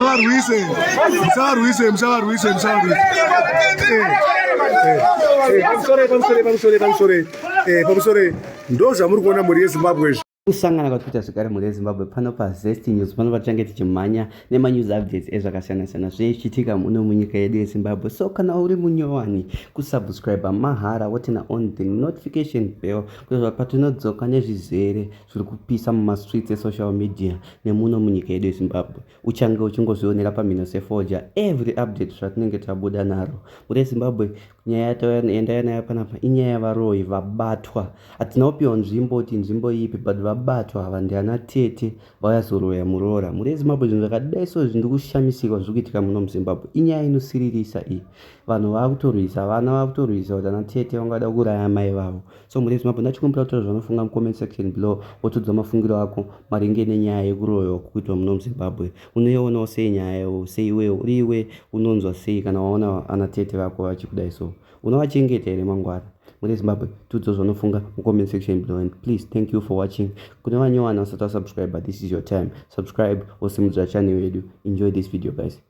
Musavarwise, musavarwise, musavarwise, musavarwise. Pamusore, pamusore, pamusore, pamusore, pamusore. Ndozvamuri kuona mhuri yeZimbabwe izvi. kusangana kwatwiita zvekare mhuri yezimbabwe pano pazest news pano patichange tichimhanya nemanews updates ezvakasiyana-siyana zvinenge zvichiitika muno munyika yedu yezimbabwe so kana uri munyowani kusubscribe mahara wotena on the notification bell kuitira patinodzoka nezvizere zviri kupisa mumastreets esocial media nemuno munyika yedu yezimbabwe uchange uchingozvionera pamhino sefoja every update zvatinenge tabuda naro mure zimbabwe nyaya yataendaya nayo panapa inyaya yavaroyi vabatwa hatina kupiwa nzvimbo kuti nzvimbo ipi but vabatwa hava ndiana tete vayazoroya muroora mure zimbabwe zvinhu zvakadai so zvindi kushamisirwa zviri kuitika muno muzimbabwe inyaya inosiririsa iyi vanhu vava kutorwisa vana vava kutorwisa kuti ana tete vangada kuuraya mai vavo So mhuri yeZimbabwe ndachikumbira kutaura zvaunofunga mucomment section below wotiudza mafungiro ako maringe nenyaya yekuroyiwa kukuitwa muno muZimbabwe. Unoionawo sei nyaya yayo seiwewo uri iwe unonzwa sei kana waona ana tete vako vachikudai so unovachengeta here mangwana? Mhuri yeZimbabwe tiudza zvaunofunga mucomment section below and please thank you for watching. Kune vanyowani vasati vasubscribe this is your time subscribe wosimudzira channel yedu enjoy this video guys.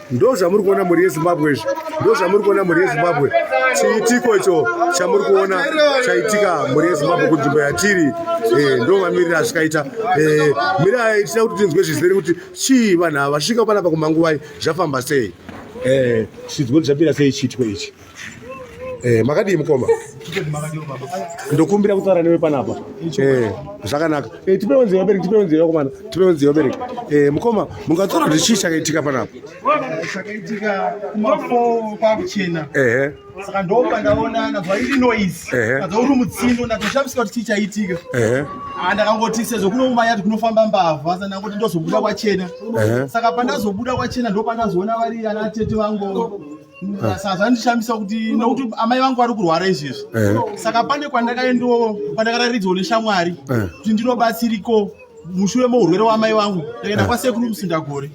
ndo zvamuri kuona mhuri yezimbabwe izvi ndo zvamuri kuona mhuri yezimbabwe chiitiko icho chamuri kuona chaitika mhuri yezimbabwe kunzvimbo yatiri eh, ndo mamiriro azvikaita eh, mirai tida kuti tinzwe zvizere kuti chii vanhu ava vasvika panapa kumanguvai zvafamba sei eh, chidzwo zvapira sei chiitiko ichi Eh, makadii mukoma? Ndokumbira kutaura newe panapa. Eh, zvakanaka. Eh, tipewo nzeve bereki, tipewo nzeve komana, tipewo nzeve bereki. Eh, mukoma, mungataura kuti chii chakaitika panapa? Chakaitika kumafo kwakuchena. Eh. Saka ndopa ndaona nabva iri noise. Eh. Nabva uri mutsindo ndatoshamisika kuti chii chaitika. Eh. Ah, ndakangoti sezvo kuno mumaya kuti kunofamba mbavha, saka ndangoti ndozobuda kwachena. Eh. Saka pandazobuda kwachena ndopandazoona vari ana tete vangu. zvandishamisa kuti nokuti amai vangu vari kurwara izvezvi eh. saka pane kwandakaendawo kwandakararidzwa neshamwari eh. kuti ndinobatsiriko mushure mourwere wamai vangu ndakaenda eh. kwasekuru musindagore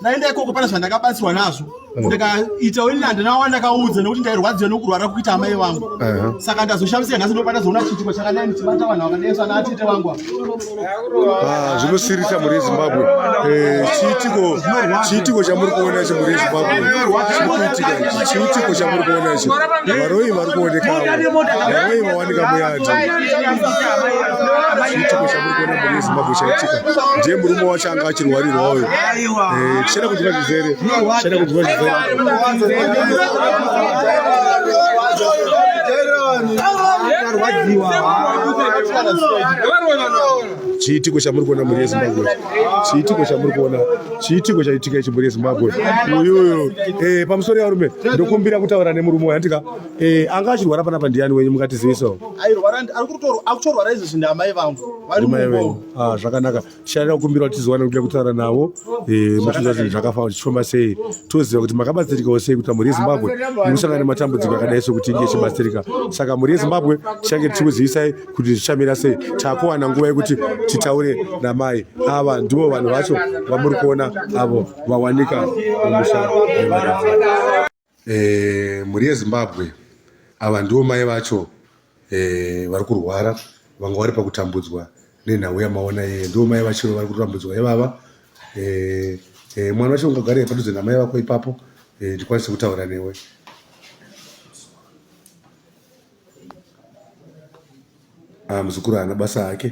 ndaenda ikoko pane zvandakabatsirwa nazvo ndikaita ini handina wandakaudza nekuti ndairwadziwa nokurwara kuita amai vangu saka ndazoshamisika nhasi ndopatazoona chiitiko chakadai ndichibata vanhu vakadai sana atete vangu Ah, zvinosirisa muri zimbabwe eh, chiitiko chiitiko chamuri kuona ichi muri zimbabwe chikuitika ichi chiitiko chamuri kuona ichi varoyi vari kuonekawo varoyi vawanika muyadi chiitiko chamuri kuona muri zimbabwe chaitika ndiye murume wacho anga achirwarirwa uyo eh, tichada kunzwa zvizere tichada kunzwa zvizere chiitiko chamuri kuona mhuri yezimbabwe chiitiko chamuri kuona chiitiko chaitika ichi mhuri yezimbabwe uyuyu eh, pamusoro yarume ndokumbira kutaura nemurume uyu andika eh, anga achirwara panapa ndiyani wenyu mungatizivisawo ah, zvakanaka tichaenda kukumbira kuti tizowana kuda kutaura navo eh, muchiita zvinhu zvakafana tichifamba sei toziva kuti makabatsirikawo sei kuti mhuri yezimbabwe ikusangana nematambudziko akadai sokuti inge ichibatsirika saka mhuri yezimbabwe tichange tichikuzivisai kuti zvichamira sei takuwana nguva yekuti titaure namai ava ndivo vanhu vacho vamuri kuona avo vawanika mumusha eh, mhuri yezimbabwe ava ndivo mai vacho eh, vari kurwara vanga vari pakutambudzwa nenhau yamaona yeye ndivo mai vachiro vari kutambudzwa ivava eh, eh, mwana wacho ungagare padudze namai vako ipapo eh, ndikwanise kutaura newe ah, muzukuru haana basa hake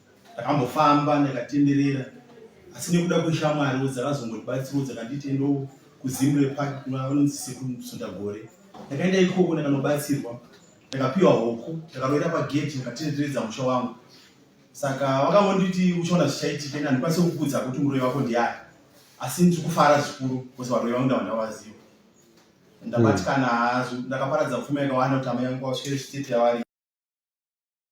Ndakambofamba ndakatenderera asi nekuda kweshamwariwo dzakazongotibatsirawo dzakanditi endo kuzimre park vanonzi sekusundagore ndakaenda ikoko ndakanobatsirwa ndakapiwa hoko ndakaroera pageti ndakatenderedza musha wangu saka vakangonditi uchaona zvichaitika ini handikwanise kukudza kuti muroyi wako ndiani asi ndiri kufara zvikuru bcause varoyi vangu ndava ndavaziva ndabatikana hazo ndakaparadza pfuma yakawanda kuti amai yangu kwasvere state yavari